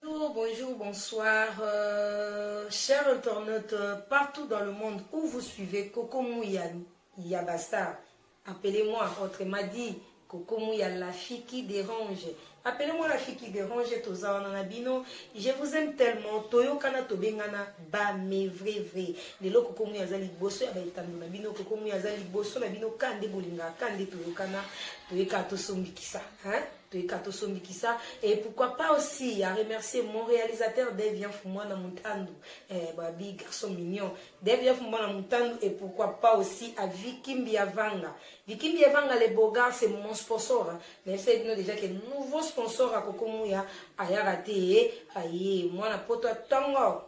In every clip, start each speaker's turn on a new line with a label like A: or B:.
A: Bonjour, bonjour, bonsoir, euh, chers internautes euh, partout dans le monde où vous suivez Coco Mouya Yabastar. Appelez-moi, autrement dit, Coco Mouya la fille qui dérange. Appelez-moi la fille qui dérange, Toza Nanabino. Je vous aime tellement. Toyo Kana Tobengana, ba mais vrai, vrai. Lelo Coco Mouya Zali Bosso, ya Baitano Nabino, Coco Mouya Zali Bosso, Nabino, Kande Bolinga, Kande Toyo Kana, Toyo Kato Sombikisa. Hein? toyika tosomikisa et pourquoi pas aussi ya remercier mon réalisateur Devian Fumwana Mutandu eh, babi garçon mignon Devian Fumwana Mutandu et pourquoi pas aussi à Vicky Mbiavanga Vicky Mbiavanga les beaux gars c'est mon sponsor hein. mais c'est nous déjà que nouveau sponsor à Kokomuya ayaka te aye mwana poto tango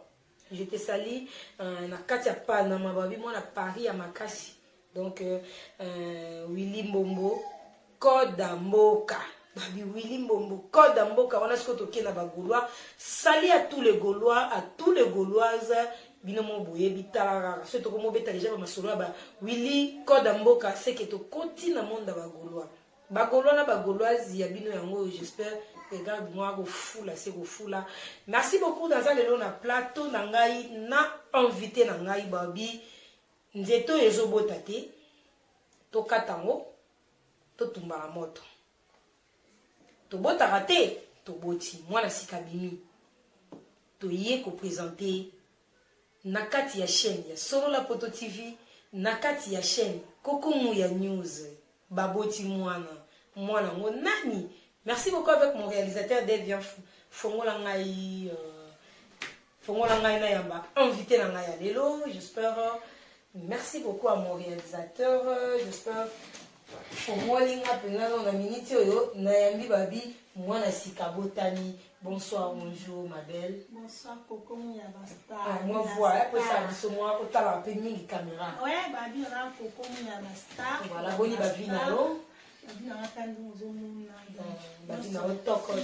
A: je te salis euh, na kati ya panama babi mwana paris ya makasi donc euh, euh, willi mbombo koda mboka babi willi mbombo koda mboka wana sikoyo toke na bagaulois sali à tous les gaulois à tous les gauloises bino mo boyebi tala kaka soki tokomobeta deja bamasolo ya ba willi koda mboka seke tokoti na monde ya bagaulois Ba golois na ba goloise ya bino yango oyo j'espère regarde moi kofula se kofula merci beaucoup naza lelo na plateau na ngai na invité na ngai babi nzete oyo ezobota te tokata yango totumba na moto tobotaka te toboti mwana sika bimi toye kopresente Na kati ya chaine ya Solola Poto TV, na kati ya chaine Koko Muya News, baboti muana, muana ngo nani? Merci beaucoup avec mon realisateur Devian Fou. Fongola ngai euh, fongola ngai na yamba invité na ngai ya lelo, j'espère Merci beaucoup à mon réalisateur. J'espère omoni nga mpenza no na miniti oyo nayambi babi mwana sika botani bonsoir bonjour ma belle bonsoir kokomo
B: ya bastar ah, mwa voi
A: apesa biso mwa otala mpe mingi kamera oye babi oza
B: kokomo ya bastar voilà boni babi na
A: yo babi na nga tandi
B: ozomona babi na
A: yo tokos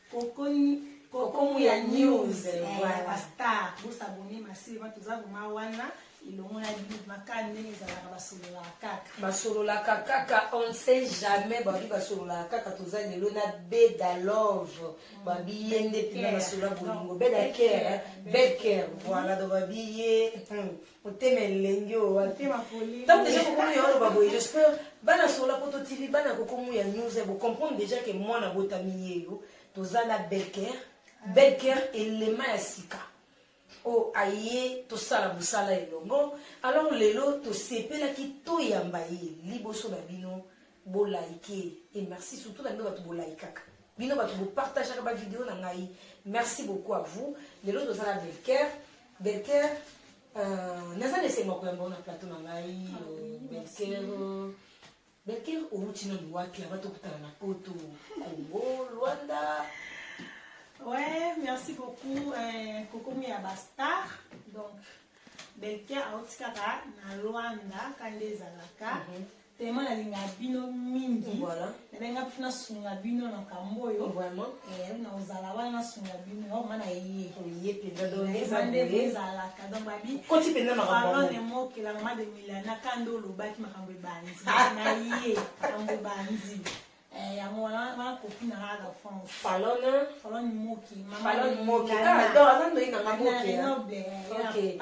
B: kokomuya news eh, eh, bastar bosabone masirema toza vrema wana elongo na bibi makani ndenge ezalaka basololaka kaka basololaka
A: kaka on ne sait jamais babi basololaka kaka toza lelo na beda love mm. babi ye nde mpena basolola bolingo beda care bed care voilà donc babi ye hmm. motema elenge oyo wapi ntango
B: deja kokomu ya oloba
A: boye jespeur bana sola poto tv bana kokomu ya news bo comprendre deja ke mwana botami yeyo toza na belker ah. belker elema ya sika oyo aye tosala mosala elongo alors lelo tosepelaki toyamba ye liboso na bino Bo like et merci surtout na bino batu bo likaka. Bino batu bo partageaka ba video na ngai. Merci beaucoup à vous. Lelo toza na Belcaire. Belcaire euh, naza na esengo koyamba yo na plateau na ngai ah euh, Belcaire. Euh, Belcaire outi nanu wapi aba tokutana na poto Congo, Luanda.
B: Ouais, merci beaucoup. Euh, Kokomi ya ba star. Donc Belcaire auti kaka na Luanda kande ezalaka. Mm -hmm. Tellement nalingaka bino mingi. Voilà. Nabenga mpe
A: nasunga
B: bino na kambo oyo. Vraiment. Eh, na
A: ozala
B: wana nasunga bino. Yo mana ye. Oye penda do
A: eza nde ezala
B: ka donc babi. Koti penda makambo. Pardon
A: ne mo ke la maman
B: de Milana kando lobaki makambo ebandi. Na ye makambo ebandi. Eh, yango wana wana kopi na ngai la france falone falone moki falone moki ah
A: donc aza ndoyi na nga moki ok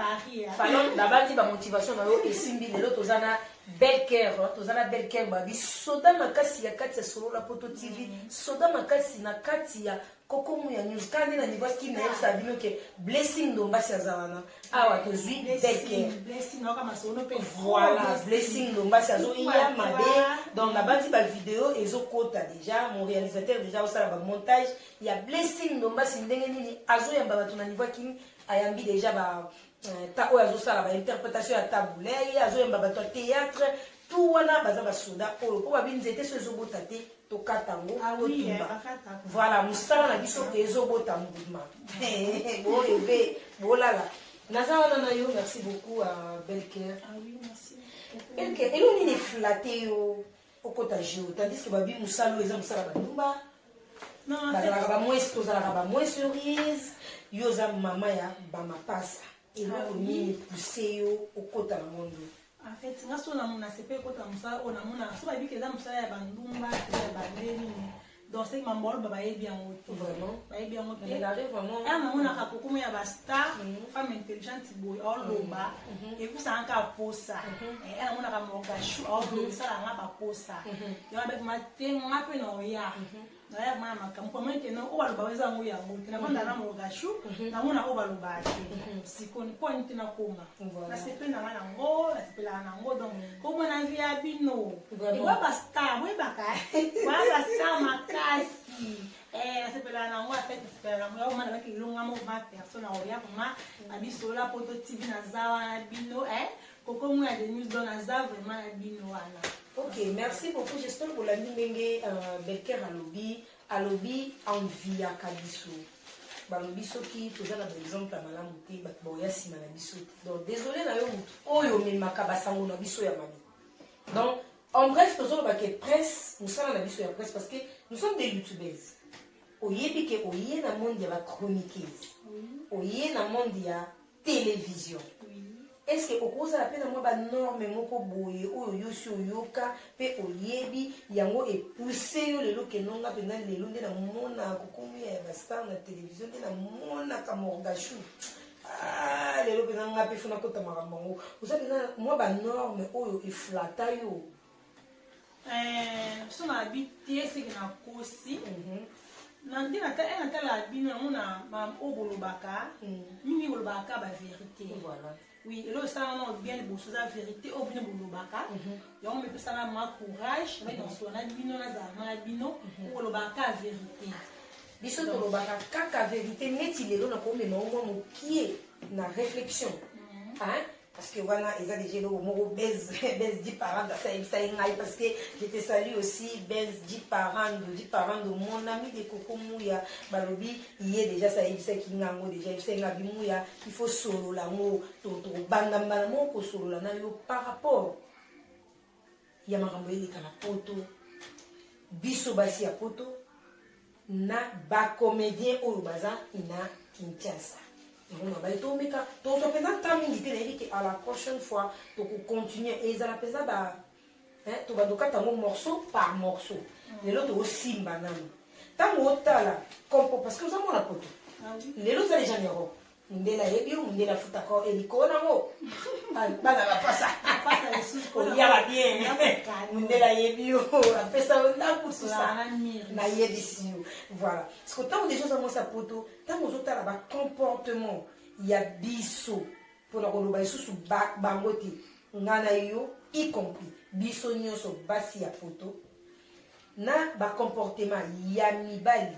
B: falone babandi
A: bamotivation na yo esimbi lelo toza na belle care hein. toza na belle care babi soda makasi ya kati ya solola poto tv mm. soda makasi na kati ya koko muya news kala nde na niveau ya skin nayebisa bino ke blessing ndombasi aza wana awa tozwi beke
B: voilà blessing
A: ndombasi azoya mabe donc nabanzi bavideo ezokota deja mon réalisateur deja aosala bamontage ya blessing ndombasi ndenge nini azoyamba bato na niveau ya kini ayambi deja ba euh, ta oyo azosala bainterprétation ya tabulei azoyamba bato ya théâtre tout wana baza basoda oyo mpo babi nzete so ezobota te tokata yango ah totumba eh, voilà mosala na biso ezobota mbuma boyebe bolala
B: naza
A: wana na yo merci beaucoup
B: à
A: belker ah belker elo nini eflate yo okota geo tandis ke babi mosala oyo eza mosala bandumba
B: bazalaka bamwesi tozalaka
A: bamwesi orise yo oza mama ya bamapasa eloko ah nini epuse yo okota na mondo En fait, nga so
B: na mona sepe kota musala ona mona so ba biki eza musala ya bandumba ya bandeni ni donc c'est mambo alo ba yebi yango to vraiment ba yebi yango te
A: la rêve
B: vraiment ah na
A: mona ka kokuma
B: ya ba star mhm. femme intelligente boy au loba et puis ça encore posa et na mona ka morga chou au loba ça nga ba posa yo avec ma te nga pe na oya mhm. naya komona makambo komona ete no oyo baloba eza yango yango te nafanda na mogashu namona oyo baloba te sikoni mpo ani te nakoma nasepeli nanga nango nasepelaka nango donc komona vi ya bino ewa bastar boyebaka wa bastar makasi nasepelaka nango afete nasepelaka nango yango mana baki elonga moko ma personne akoya koma babisola poto tv naza wana bino Koko mwa ya Denise Don aza vraiment na bino wana. Ok, merci
A: beaucoup. J'espère que l'ami ndenge euh, Belker alobi alobi enviaka biso. balobi soki toza na baexemple ya malamu te bato baoya nsima na biso te donc désolé na yo motu oyo omemaka basango na biso ya mabe donc en bref tozoloba ke presse mosala na biso ya presse parce que nous sommes des youtubeuses oyebi ke oye na monde ya bachroniqueuse oye na monde ya television est-ce que okozala mpe na mwa banorme moko boye oyo yosi oyoka mpe oyebi yango epousse yo lelo kenonga mpenza lelo nde namona kokomia ya bastar na televizio nde namonaka morgachou ah, lelo mpenza ngai mpe fona kota makambo yango oza mpenza mwa banorme oyo eflata yo Eh,
B: biso na abi te seke na kosi mhm. na nde eh, natala bino yango na oyo bolobaka mhm. mingi bolobaka ka baverité oui
A: elo esala wana
B: bien liboso eza verité oyo bino bolobaka mhm. yango mepesaka ma courage mai nasola na bino nazala na bino kolobaka ka verité biso
A: tolobaka kaka verité neti lelo nakomema omwa mokie na réflexion parce que wana eza deja eloko moko base base di parent asa yebisa ye ngai parce que je te salue aussi base di parent di parent de mon ami de koko muya balobi ye deja sa yebisaki nga yango deja yebisaki nga bimuya il faut solola yango tokobanda mbala moko kosolola na yo par rapport ya makambo eleka na poto biso basi ya poto na bacomédien oyo baza na kinshasa yango na baye tomeka tozwa mpenza nta mingi te nayebi ke à la prochaine fois tokocontinue ezala mpenza ba tobandokata yango morceau par morceau mm. lelo tokosimba nano ntango otala compo parce que ozamona poto ah lelo oza deja na europe mundele ayebi yo mundele afutaka yo elikoo nango bana bapasa apasa lisusu kolia babien mundele ayebi yo apesa yo ndako susa nayebisi yo voilà siko ntango deja oza mwasi ya poto ntango ozotala bacomportement ya biso mpona koloba lisusu bango te nga na yo y compris biso nyonso basi ya poto na bacomportement ya mibali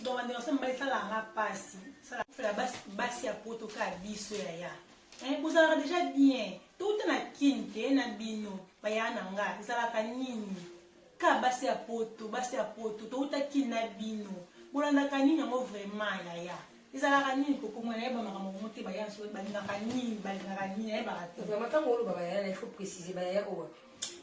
B: Donc bande ensemble mbali sala nga pasi. Sala fela basi basi ya poto ka biso ya ya. Eh bozalaka déjà bien. Touta na kin te na bino baya na nga ezalaka nini? Ka basi ya poto, basi ya poto touta kin na bino. Bolandaka nini yango vraiment ya ya. ezalaka nini kokomona nayeba makambo yango te baya balingaka nini balingaka nini nayebaka te vraiment ntango oloba bayaya na
A: il faut préciser bayaya oyo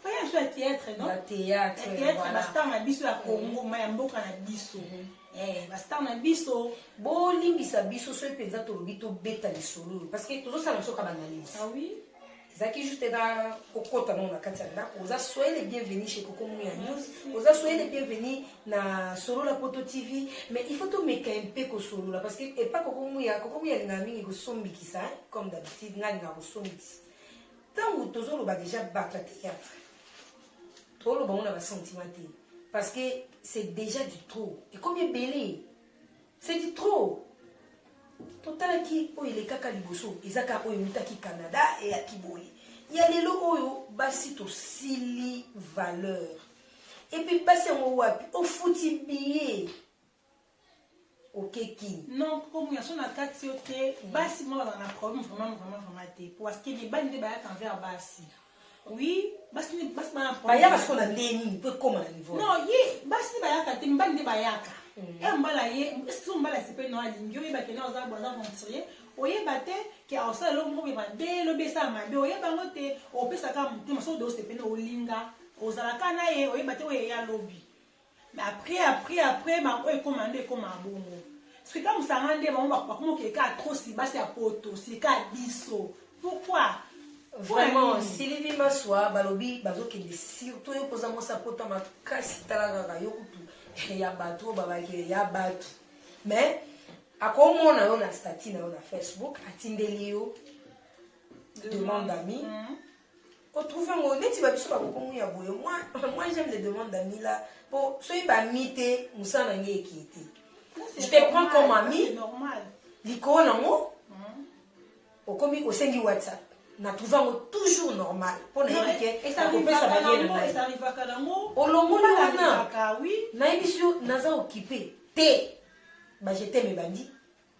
A: Oyo ya
B: theatre, non? Ya theatre. Ya theatre,
A: voilà. Basta na
B: biso ya Congo, ma ya mboka na biso. Mm -hmm. Eh, basta na biso bolimbisa
A: biso soki mpenza tolobi tobeta lisolo oyo parce que tozosala biso ka banalyse ah oui
B: ezalaki juste na
A: kokota nango na kati ya ndako oza soyele bienvenu chez koko munu ya news oza soyele bienvenu na solola poto tv mais il faut tomeka mpe kosolola parce que epa koko muya koko muya alingaka mingi kosombikisa comme d'habitude nga alingaka kosombikisa Tango tozo loba deja batu ya théâtre. To loba na ba sentiment te parce que c'est déjà du trop. Et comme ebele c'est du trop. totalaki oyo elekaka liboso eza kaka oyo eutaki canada eyaki boye ya lelo oyo basi tosili valeur epuis basi yango wapi ofuti biye okeki non komi ya sona
B: kati yo te mm. basi mwa bazala na problème vraiment vraiment vraiment te parce que mibali nde bayaka envers basi oui basi nde basi bana bayaka siko na ndenge
A: nini mpo ekoma na niveau non ye basi nde
B: bayaka te mibali nde bayaka mm. e mbala ye eske mbala esepe no alingi oyeba kena oza boza aventurier oyeba te ke osala eloko moko beba de lobi esala mabe oyeba yango te opesaka motema soki ode osepene olinga ozalaka na ye oyeba te oye ya lobi mais après après après bango oyo ekoma nde ekoma bongo soki ka mosanga nde bango bakoma okeka atrosi basi ya poto sika biso pourquoi vraiment
A: silivi maswa balobi bazokende surtout yo mpoza mwasi apota makasi tala kaka yo kutu ya bato oyo babakele ya bato mais akomona yo na stati na yo na facebook atindeli yo demande ami mm -hmm. ko trouver ngo neti ba biso ba kokomu ya boye moi moi j'aime les demandes d'amis là po soki ba mi te musala na ngai eki te je te prends comme ami normal
B: likolo na ngo
A: hmm. okomi osengi whatsapp na trouve yango toujours normal mpo nayebi ke akopesa baye na
B: ngai olongoli wana nayebisi yo
A: naza okipe te bajete mebandi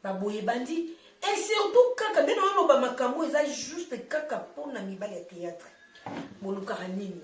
A: Na boye ebandi et surtout kaka bino oloba makambo eza juste kaka mpo na mibali ya théâtre bolukaka nini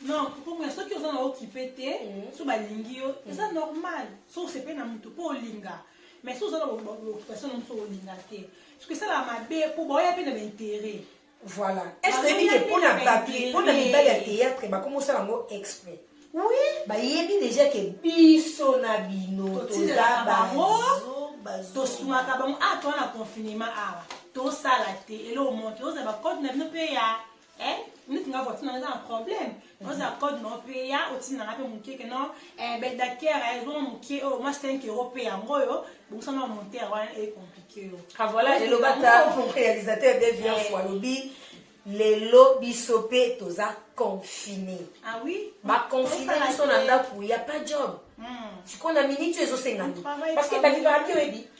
B: non kokomona soki oza na okipe te mm. so balingi yo mm. eza normal so osepe na motu mpo olinga mais so oza na occupation na mosu olinga te soki esala mabe mpo baoya mpe na baintere Voilà. Est-ce
A: que oyebi ke mpona bato mpona mibali ya théâtre bakomi osala yango exprès oui
B: bayebi
A: déjà ke biso na bino toza bazoba tosungaka
B: bango a ah, toa na confinement awa ah, tosala te eloo moto ozala bacode na bino mpe ya eh, neti nga voiture na eza na problème oza code na opeya otinda nga mpe moke ke non eh, bedakere eh, ezonga moke oyo oh, mwa 5 euro mpe yango oyo bongosana montere wana ecomplike yo ah, voilà elobata
A: réalisateur de viance eh. alobi lelo biso mpe toza confine ah
B: baconfine biso
A: na ndako ya pas job hmm. sikoyo na miniti oyo ezosenga nini parce que bakibaraki oyebi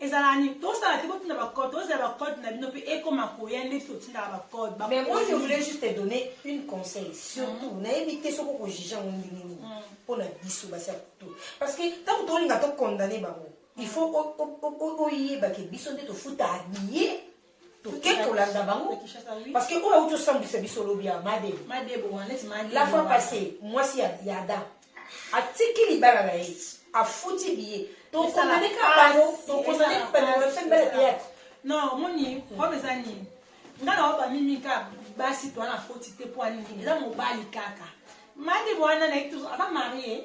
B: ezala ni tosala te botinda ba code tozela ba code na bino pe ekoma koya ndeti totindaka ba code ba mais moi je voulais juste
A: te donner une conseil surtout mm. nayebi te soko ko juger yango ndenge nini mm. mpo na biso basi ya kutu parce que ntango tolinga to condamne bango il faut oyebake biso nde tofutaka billet toke kolanda bango parce que oyo auti osambwisa biso lobi ya madebo la fois passé mwasi ya ada atiki libala na ye afuti biye tokomeleka bango tokomeleka bango na fin bela théâtre non omoni
B: problème eza nini nga na oba mimi ka basi to wana foti te po alingi eza mobali kaka madebo wana na ye aza marie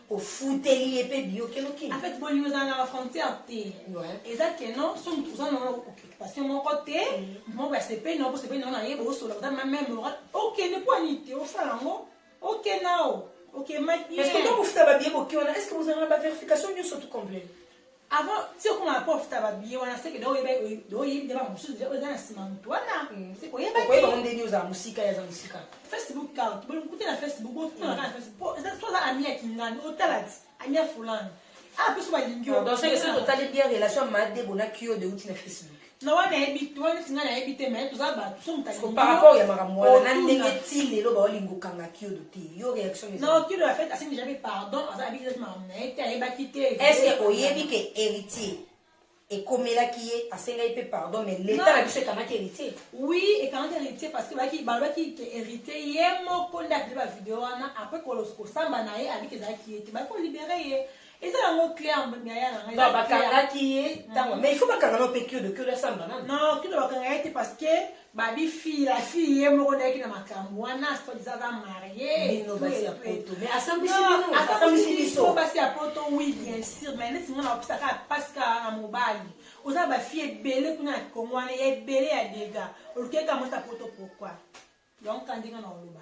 A: ofuteli ye mpe biyokeloki en fait bolingo ezala na
B: bafrontière te eza ke non so moto oza nao occupation moko te mm. moko ya sepeli nao bosepeli nao na ye bosola oza mame moral okende mpo ani te osala yango oke nao okemaki ye eske tokofuta babiye
A: boki wana eske bozalaka na baverification nyonso tout complet avant ti
B: okoma na prof ta babiye wana seke do oyeba do oyebi nde bango mosusu deja oza na nsima moto wana mm. seke oyebaoyebango ndeni ozala mosika
A: ye aza mosika facebook count
B: bokuta na facebook botuna kaka na facebook po eza so oza ami ya kingani otala ti ami ya fulani ah biso balingi yo donc seke soki totali bien
A: relation ya madebo na kio de uti na facebook na wana yebi
B: wana neti ngai nayebi te mai toza bato so motalipar rapport ya makambo wana
A: na ndenge ti lelo baolinga okanga kiodo te yo réaction na kiodo ya fete asengi
B: jape pardon aza abikisaki makambo na ye te ayebaki te est-ce que oyebi ke
A: héritier ekomelaki ye asengaki mpe pardon mais leta na biso ekangaki héritier oui ekangaki
B: héritier parce que baki balobaki ke héritier ye moko nde apede bavideo wana après kosamba na ye abiki ezalaki ye te baki kolibere ye eza yango claire yaya na ngai bakangaki ye ntango
A: mais il faut bakanga na mpe kiodo kiodo asamba nani non kiodo bakanga ye
B: te parce que babi fille la fille ye moko ndayaki na makambo wana sodizaka marieasambisi
A: biso
B: basi ya poto oui bien sûr mais neti nga nakopisaka mpasi kaka na mobali oza na bafille ebele kuna na kongo wana ebele ya dega olukeka mosi ya poto pourkoi donc kandinga na oloba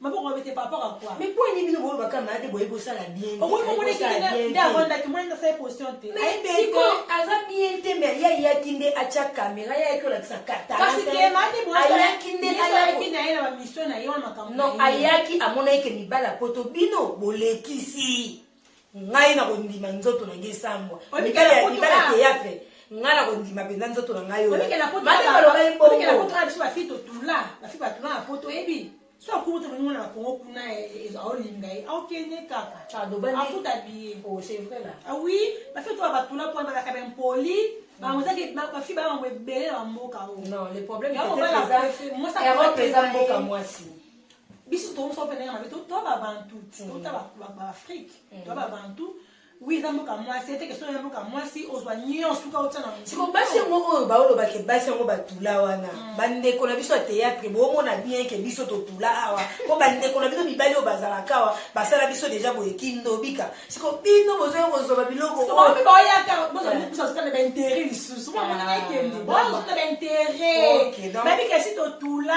B: maboko mabe te par rapport à quoi mais poni bino boyo bakama
A: ate boye bosala bien okoki komona ekende
B: nde avandaki mwana nasa ye position te siko
A: aza bien te mais ye ayaki nde atya kamera ye ayaki olakisa katayaki
B: nde
A: ayaki na ye na
B: bamisio na ye wana makambo non ayaki
A: amonaki ke mibala poto bino bolekisi ngai na kondima nzoto na ngai esambwa mikala ya libala théâtre ngai na kondima mpenza nzoto na ngai
B: oyoaoyebi so akuta bongo na kongo kuna aolinga ye aokende kaka afuta biye oui
A: bafeto
B: ya batula mpo balaka baimpoli bango ezaki bafi baya bango ebele na bamboka oyo
A: biso tokosa
B: mpe ndenge mabe toa babantu tota baafrike toa babantu oui eza mboka mwasi ete kestion ya mboka mwasi ozwa nyonso tuka otya na siko basi yango oyo
A: baolobake basi yango batula wana mm. bandeko na biso ya théâtre boomona bien ke biso totula awa mpo bandeko na biso mibali oyo bazalaka awa basala biso deja boye kindobika siko bino bozoya kozwa biloko baintere
B: lisusu bamonana ekende bozwa baintere babikasi totula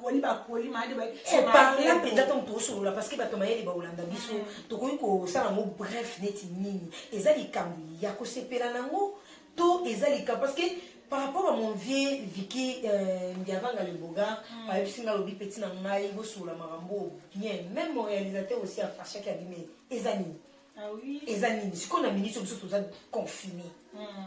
B: poli bapoli mayele koparla mpenza
A: ntango tokosolola parceke bato mayele bakolanda biso mm. tokoki kosala yango bref neti nini eza likambo ya kosepela nango to eza likambo parceke par rapport à mon vieux viki euh, ndiavanga le boga mm. ayebisi ngai alobi peti na ngai bosolola makambo bien même mon réalisateur aussi afashaki abime eza nini ah
B: eza nini sikoyo na minute
A: biso toza confine mm.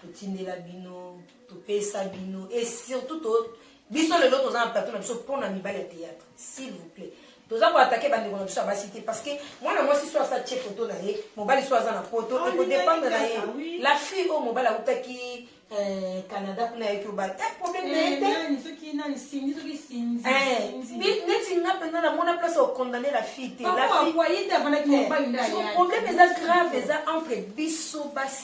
A: totindela bino topesa bino et surtout to biso lelo toza na plateau na biso mpo na mibali ya théâtre s'il vous plaît toza koatake bandeko na biso ya basi te parce que mwana mwasi so asa tie foto na ye mobali so aza na poto ah, ekodépendre na ye ah la fille oyo mobali autaki euh, canada kuna yaki oba te problème
B: na ye
A: teneti nga mpenza namona place okondamne la fille te
B: problème eza
A: grave eza entre biso basi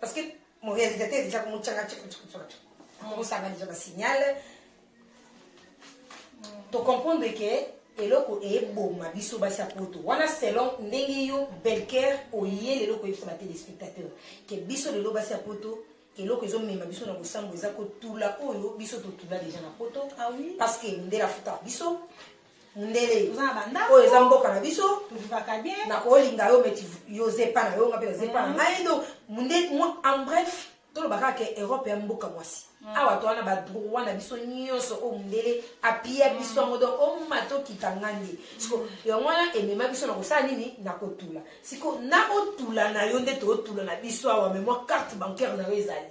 A: parce que mon réalisateur déjà comme tchanga tchanga tchanga tchanga mon ça va déjà signal to comprendre que eloko eboma biso basi ya poto wana selon ndenge yo belker oye lelo koyebisa ba téléspectateur ke biso lelo basi ya poto eloko ezomema biso na kosambwa eza kotula oyo biso totula deja na poto ah parce que
B: mondele afutaka
A: biso mundele oyo eza
B: mboka na biso nakolinga yo
A: meti yo zepa na yo nga mpe na zepa na ngai do mundele en bref toloba kaka ke europe ya mboka mwasi mm. awa to wana badroit na biso nyonso oyo mundele apia mm. biso yango donc oma tokita ngandi siko mm. yango wana emema biso na kosala nini na kotula siko na otula na yo nde tootula na biso awa me mwa carte bancaire na yo ezali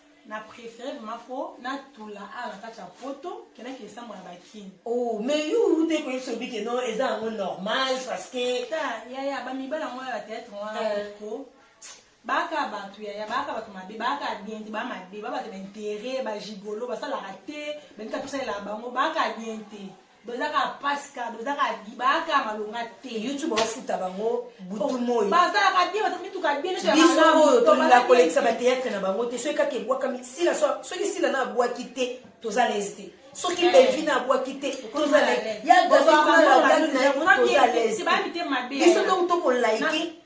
B: na préféré vraiment po na tula a na kati ya poto kendaki esambo na bakini oh mais yo
A: ute koyebisa obi ke no eza yango normal parce que ta yaya bamibala
B: yango ya bateatre wana euh. ko baka bato yaya baka bato mabe baka bien te ba mabe ba bato na intérêt ba gigolo basalaka te bendika tosalela bango baka bien te boza kaka mpasi kaka boza kaka baaka malonga te youtube baofuta bango
A: butu moi basalaka bie baza
B: mituka bie biso oyo tolinga
A: kolekisa bateatre na bango te soki kaka ebwakami sila soki sila na abwaki te toza lese te soki eh. bevina abwaki te toza lese ya gabiso tokolike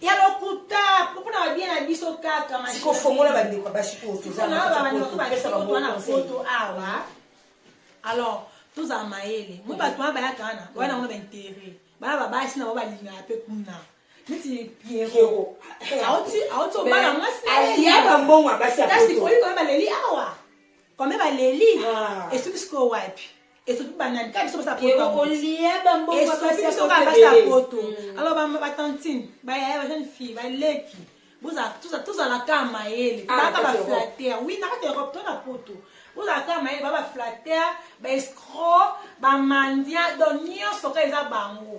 A: ya lokuta
B: mpona babie na biso kaka masikofongola
A: bandeko ya basi
B: oyo tozaapoto awa alors tozala mayele mo bato wana bayaka wana wana yango na baintere bana babasi na bango balingaka mpe kuna neti piero auti obala mwasi kasi
A: koyi koye baleli
B: awa kome baleli esuki sikoyo wapi esopi banani kaka biso basala potoesopi
A: biso kaka basala
B: poto alors batantine bayaya bajeune fille baleki tozala kaka mayele baka baflater wi na kati ya europe to na poto bozala kaka mayele ba baflater baescro bamandia donc nyonso kaka eza bango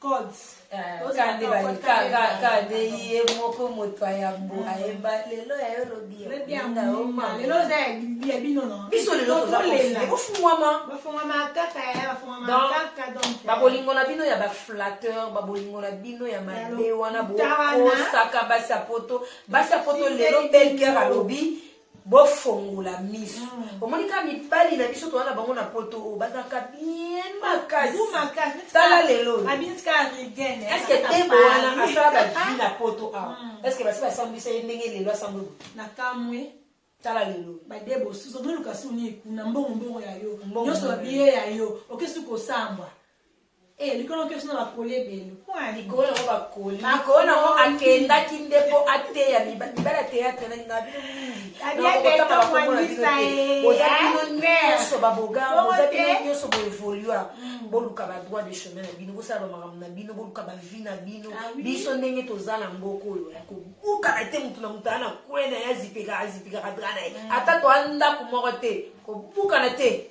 B: code eh, kande
A: bakande ye moko moto ayambo mm. ayemba lelo ya yo lobialelo
B: oza ya bino biso lelo
A: tozabofungwama
B: babolingo na bino ya
A: baflatteur babolingo na bino ya mabe wana bokosaka basi ya poto basi ya poto lelo belger alobi bofongola miso mm. omoni kaka mibali na biso toza na bango na poto oyo bazalaka bien makasitala lelo eske tembo wana asala bavi na poto awa mm. eske basi basambwisa ye ndenge lelo asambwe nakamwe
B: tala lelo
A: badebo susu omiluka
B: suni kuna mbongo mbongo ya yo nyonso babiye ya yo okesi kosambwa Eh, likolo oke suna bakoli ebele wana likolo yango
A: bakoli makolo nango akendaki nde mpo ateya mibala teatre nalinga bino mingiaoza bino nyonso babogaoza bino nyonso boevolua mm. boluka badroit de chemin na bino bosala bamakambo na bino boluka bavi na bino ah biso ndenge toza na mboka oyo ya kobukana te motu na motu aa na kwe na ye azipeka azipekaka dra na ye mm. ata toa ndako moko te kobukana te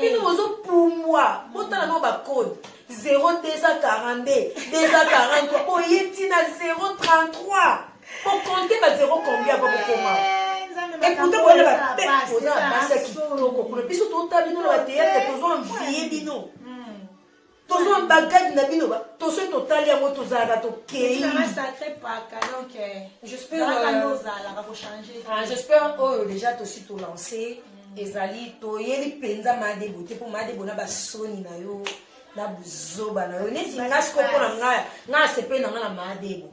A: bino bozopumbwa botala no bacode 0242 243 boye ntina 033 bokonte ba 0 combien ava bokoma eputa boyana bape oza na basi ya kitoko kuna biso totala bino na bateyatre tozo envie bino tozwa bagade na bino toso totali yango tozalaka
B: tokeiijespère
A: oyo déjà tosi tolance ezali toyeli mpenza madebo te mpo madebo na basoni na yo na buzoba na yo neti nga siko mpo na ngai ngai asepeli na ngai na madebo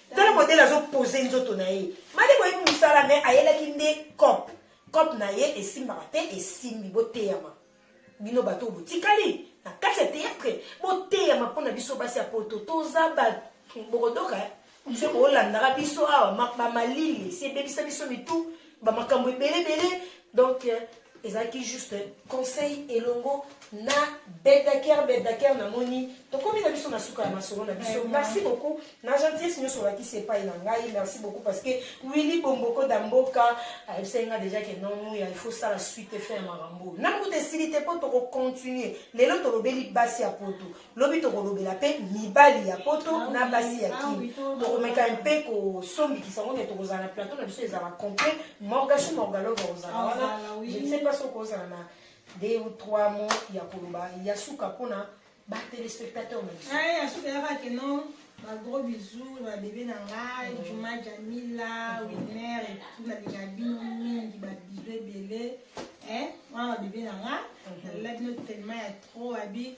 A: Tala modèle azo poser nzoto na ye. Made boye musala mais ayelaki nde cop. Cop na ye esimbaka te esimbi boteyama. Bino bato botikali na kati ya théâtre boteyama mpo na biso basi ya poto toza bato bokodoka eh? se bolandaka biso awa bamalili esi ebebisa biso mitu bamakambo ebele ebele donc euh, ezalaki juste conseil elongo na bedaker bedaker namoni tokomi na biso na suka ya masolo na biso merci beaucoup na gentillesse nyonso olakisi epai na ngai merci beaucoup parce que willi bomboko da mboka ayebisaki ngai déjà ke nomuya il faut sala suite efe ya makambo na mbuta esili te mpo tokocontinue lelo tolobeli basi ya poto Lobi tokolobela mpe mibali ya poto ah na basi ya ah kini tokomeka mpe kosombikisa ngo ne tokozala na plateau na biso ezala complet morgashu morgalova ozala ah, wana je ne sais pas soki ozala na deux ou trois mots ya koloba ya suka mpona batelespectateur na biso ya suka yaka ke
B: non bagros bisous na babebe na ngai mm. juma jamila winer etout nalinga bino mingi babizo ebele wana babebe na ngai nalela bino telema ya trop abi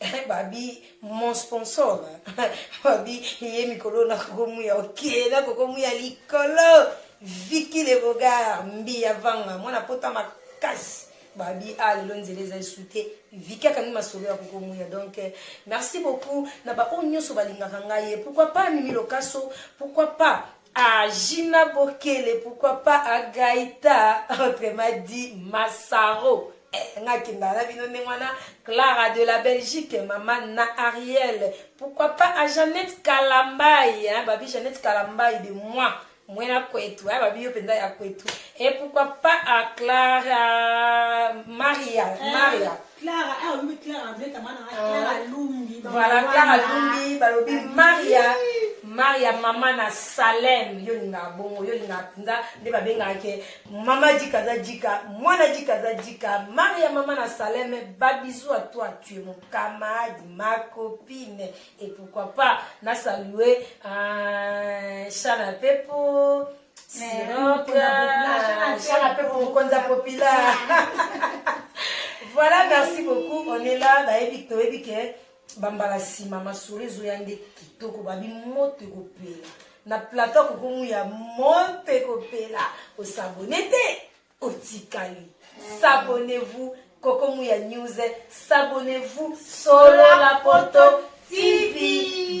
A: Eh, babi mon sponsor babi ye mikolo na kokomuya oke na kokomuya likolo viki le bogar mbiya vanga mwana pota makasi babi a ah, lelo nzela eza esu te viki akangi masolo ya kokomuya donc eh, merci beaucoup na baoyo nyonso balingaka ngai ye pourquoi pas mimi lokaso pourquoi pas A Gina Bokele pourquoi pas a Gaïta autrement dit Massaro eh, nga kenda na bino ndenge wana Clara de la Belgique mama na Ariel pourquoi pas a Jeannette Kalambayi hein, babi Jeannette Kalambayi de moi mwena kwetu eh, babi yo mpenza ya kwetu et pourquoi pas a Clara Maria eh. Maria Clara,
B: ah oui, Clara, André, ta maman, ah,
A: Clara oh.
B: Lumbi.
A: Voilà, Clara Lumbi, balobi
B: Maria.
A: maria mama na salem yo olingaka bongo yo olingaka mpenza nde babengaka ke mama jika aza jika mwana jika aza jika maria mama na salem babizu a toi tu es mon camarade ma copine et pourquoi pas na salue uh, chana pepo voilà merci beaucoup on est là bayebi toyebi ke bambala nsima masolo ezoya nde kitoko babi moto ekopela na plateau kokomu ya moto ekopela osabone te otikali s'abonnez-vous kokomu ya news s'abonnez-vous solo la poto tv